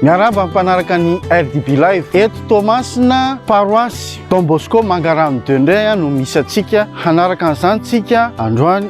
Miarahaba mpanaraka ny RDB Live. Eto Toamasina, paroasy Don Bosco Mangarano 2 indray no misy antsika. Hanaraka an'izany tsika androany.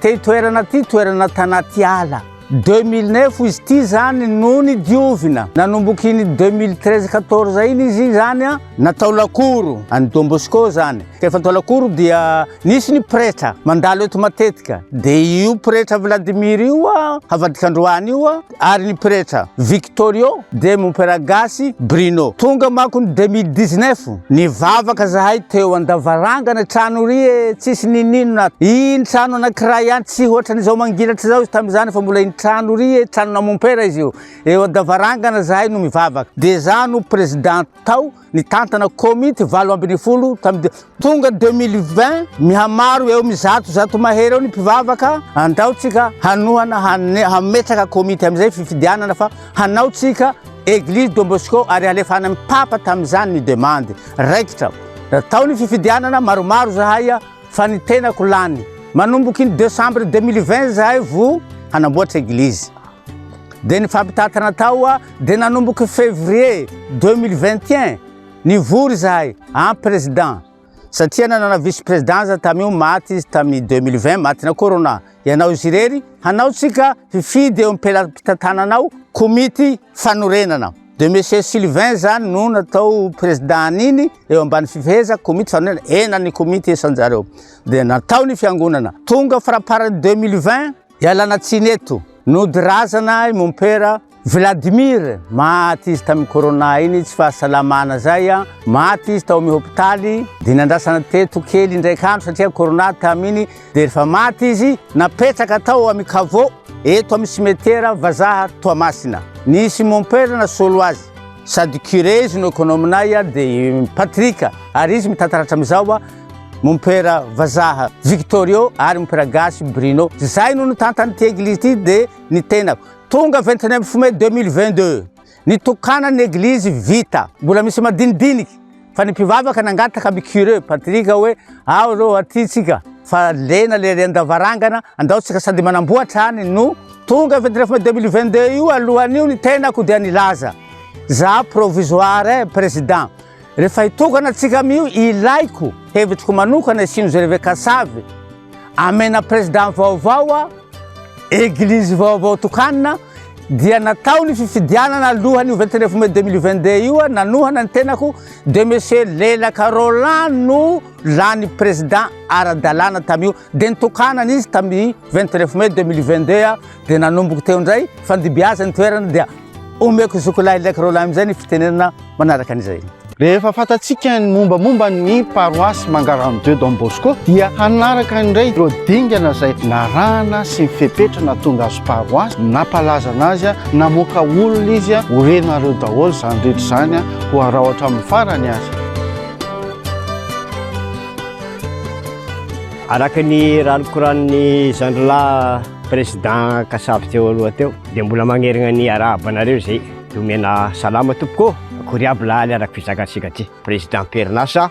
Te hitoerana aty toerana tanaty ala. 2009 ho izy ity zany no nidiovina. Nanomboka iny 2013 14 iny izy zany a. Natao lakoro any Don Bosco zany. Ka efa atao lakoro dia nisy ny pretra mandalo eto matetika. Dia io pretra Vladimir io a, havadik'androany io a. ary ny pretra Victorio de Mumperagasi Bruno. Tonga manko ny deux mille dix-neuf, nivavaka zahay teo an-davarangana trano rie tsisy nininona ato. Iny trano anankiray ihany, tsy hoatran'izao mangilatra izao izy tamin'izany fa mbola iny trano rie tranona mompera izy io. Eo an-davarangana zahay no mivavaka. Dia za no president tao. Nitantana komity valo ambin'ny folo tamin'ny tonga 2020 mihamaro eo amin'ny zato zato mahery eo ny mpivavaka. Andaotsika hanohana hametraka komity amin'izay fifidianana fa hanaotsika Eglise Don Bosco ary halefana amin'ny Papa tamin'izany ny demandy. Raikitra. Natao ny fifidianana maromaro zahay fa ny tenako lany. Manomboka iny desambra 2020 zahay vo hanamboatra eglizy. Dia ny fampitatana tao a, dia nanomboka fevrier 2021, nivory zahay, en président. Satria nanana vice-président za tamio, maty izy tamy 2020, matina corona. Ianao izy irery hanao tsika hifidy eo am-pelam-pitantananao komity fanorenana. De Monsieur Sylvain zany no natao président iny eo ambany fifeheza komity fanorenana ena ny komity isanjareo. De natao ny fiangonana. Tonga faramparany 2020 ialana tsiny eto. Nody razana i mompera. Vladimir, maty izy tamin'ny corona iny, tsy fahasalamana zay an, maty izy tao amin'ny hopitaly, dia nandrasana teto kely indraika andro satria corona tamin'iny, dia rehefa maty izy, napetraka tao amin'ny caveau eto amin'ny cimetière vazaha Toamasina. Nisy mompera nasolo azy, sady curé izy no ekonominay an, dia i Patrick, ary izy mitantara hatramin'izao an, mompera vazaha Victorio ary mompera gasy Bruno, zay no nitantana ity église ity dia ny tenako. Tonga 29 mai 2022, nitokanan'ny eglizy vita. Mbola misy madinidiniky fa ny mpivavaka nangataka amin'ny curé Patrick hoe ao reo aty tsika fa lena le rian-davarangana, andao tsika sady manamboatra any no tonga 29 mai 2022 io alohan'io ny tenako dia nilaza za provisoire président rehefa hitokana tsika amin'io ilaiko hevitriko manokana isinozereve kasavy Amena président vaovao a, église vaovao tokanina, dia natao ny fifidianana alohan' io 29 mai 2022 io a, nanohana ny tenako dia monsieur Lelaka Roland no lany président ara-dalàna tamin'io, dia nitokanana izy tamin'ny 29 mai 2022 dia nanomboko teo indray fandibiazany toerana dia. Omeko zokolahy Lek Roland amin'izay ny fitenenana manaraka an'izay. Rehefa fantatsika ny mombamomba ny paroasy Mangarano de Don Bosco dia hanaraka indray ireo dingana izay narahana sy ny fepetra natonga azy paroasy nampalazana azy namoaka olona izy ho renareo daholo izany rehetra izany ho araohatra amin'ny farany azy. Araka ny raha nikoranin'ny zandrilahy président Kasavy teo aloha teo. Dia mbola magnerigna ny arahaba anareo izay. Dia omena salama tompoko ô. Akory aby lahaly araka fizakantsika aty. Président am-perinasa,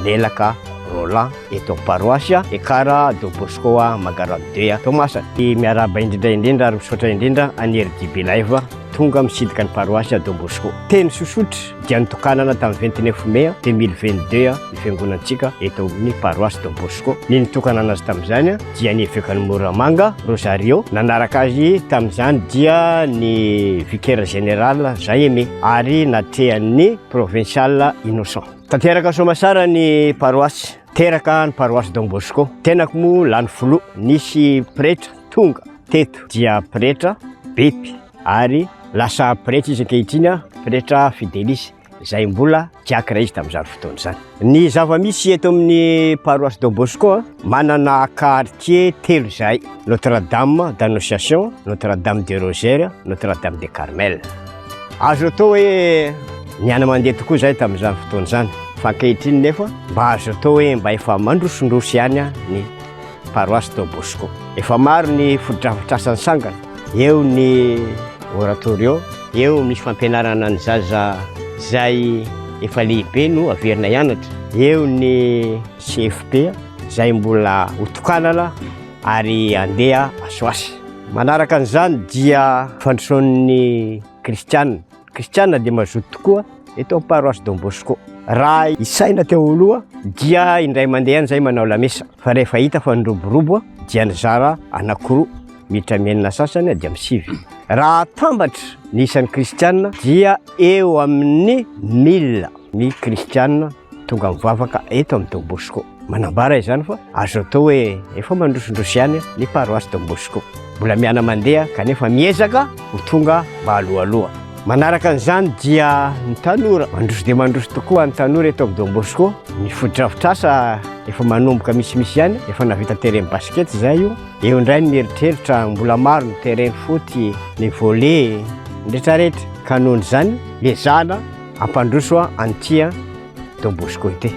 Lelaka Roland, eto am-paroasy Ekara Don Bosco à Magaram deux à Toamasina. Dia miarahaba indrindra indrindra ary misaotra indrindra an'i RDB Live tonga mitsidika ny paroasy Don Bosco. Teny sosotra dia nitokanana tamin'ny vingt neuf mai deux mille vingt deux ny fiangonantsika eto amin'ny paroasy Don Bosco. Ny nitokana anazy tamin'izany. dia ny evekany Moramanga Rosario nanaraka azy tamin'izany dia ny vikera général Jean Aimé ary natrehan'ny provincial Innocent tanteraka Soamasara ny paroisse teraka ny paroisse Don Bosco tenako moa lany filoha nisy pretra tonga teto dia pretra bepy ary lasa pretra izy ankehitriny pretra Fidelis izay mbola diakra izy tamin'izany fotoana izany. Ny zava-misy eto amin'ny paroisse Don Bosco, manana quartier telo izay, Notre-Dame d'Annonciation, Notre-Dame de Rosaire, Notre-Dame de Carmel. Azo atao hoe niana-mandeha tokoa izay tamin'izany fotoana izany, fa ankehitriny nefa mba azo atao hoe mba efa mandrosindroso ihany ny paroasy Don Bosco. Efa maro ny fotodrafitrasany sangany, eo ny oratorio, eo misy fampianarana ny zaza izay efa lehibe no averina hianatra, eo ny CFP izay mbola ho tokanana ary handeha asoasy. Manaraka an'izany dia fandrosoan'ny kristiana Kristiana dia mazoto tokoa eto amin'ny paroisse Don Bosco. Raha isaina teo aloha dia indray mandeha izay manao lamesa fa rehefa hita fa niroborobo dia nizara anankiroa mitra menina sasany dia misivy. Raha atambatra ny isan'ny kristiana dia eo amin'ny mille. ny kristianina tonga mivavaka eto amin'ny Don Bosco. Manambara izany fa azo atao hoe efa mandrosindroso ihany ny paroasy Don Bosco. Mbola miana-mandeha kanefa miezaka ho tonga mialoha. Manaraka an'izany dia ny tanora, mandroso dia mandroso tokoa ny tanora eto amin'ny Don Bosco. Ny fotodrafitrasa efa manomboka misimisy ihany, efa navita terrain basket izay io. Eo indray ny mieritreritra, mbola maro ny terrain foot, ny volley, ny rehetrarehetra. Ka noho izany, ezahana. Ampandroso a an'ity a Don Bosco ity.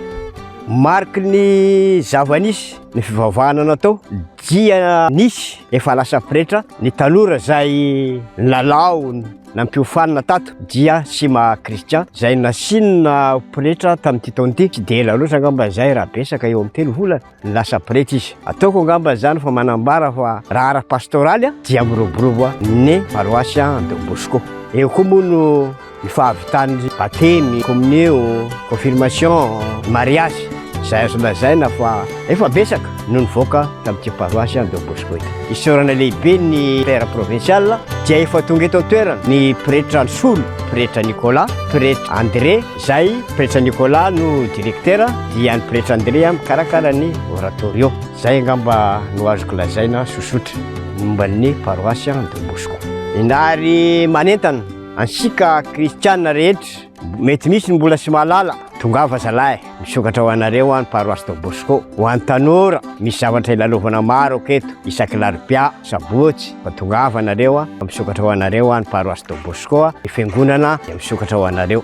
Mariky ny zava-nisy ny fivavahana natao dia nisy efa lasa pretra ny tanora izay nilalao nampiofanina tato dia sima christian izay nasinina ho pretra tamin'ity taona ity tsy dia ela loatra angamba izay raha betsaka eo amin'ny telo volana Lasa pretra izy. Ataoko angamba izany fa manambara fa raha ara-pastoraly dia miroborobo ny paroasy Don Bosco. Eo koa moa no ny fahavitan'ny batemy, kominio, confirmation, mariazy izay azo lazaina fa efa betsaka no nivoaka tamin'ity paroasy Don Bosco ity. Isaorana lehibe ny Père provincial dia efa tonga eto an-toerana ny pretra Ntsolo, pretra Nicolas, pretra André, Izay Pretra Nicolas no Direktera dia an'i Pretra Andrea mikarakara ny Oratorio. Izay angamba no azoko lazaina sosotra ny momba ny Paroasy an Don Bosco. Inary manentana antsika Kristiana rehetra, mety misy ny mbola tsy mahalala, tongava zalahy, misokatra ho anareo an Paroasy Don Bosco, ho an'ny tanora, misy zavatra ilalaovana maro aketo, isaky larobia. Sabotsy, fa tongava anareo a, misokatra ho anareo a ny paroisse Don Bosco a, ny fiangonana dia misokatra ho anareo.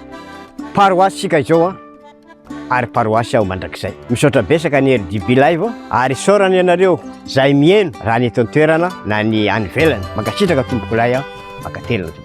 Paroisse tsika izao a, ary paroisse aho mandrakizay. Misaotra betsaka ny RDB Live ary isaorana ianareo izay mihaino raha ny eto an-toerana na ny any ivelany. Mankasitraka tompokolahy a, mankatelina.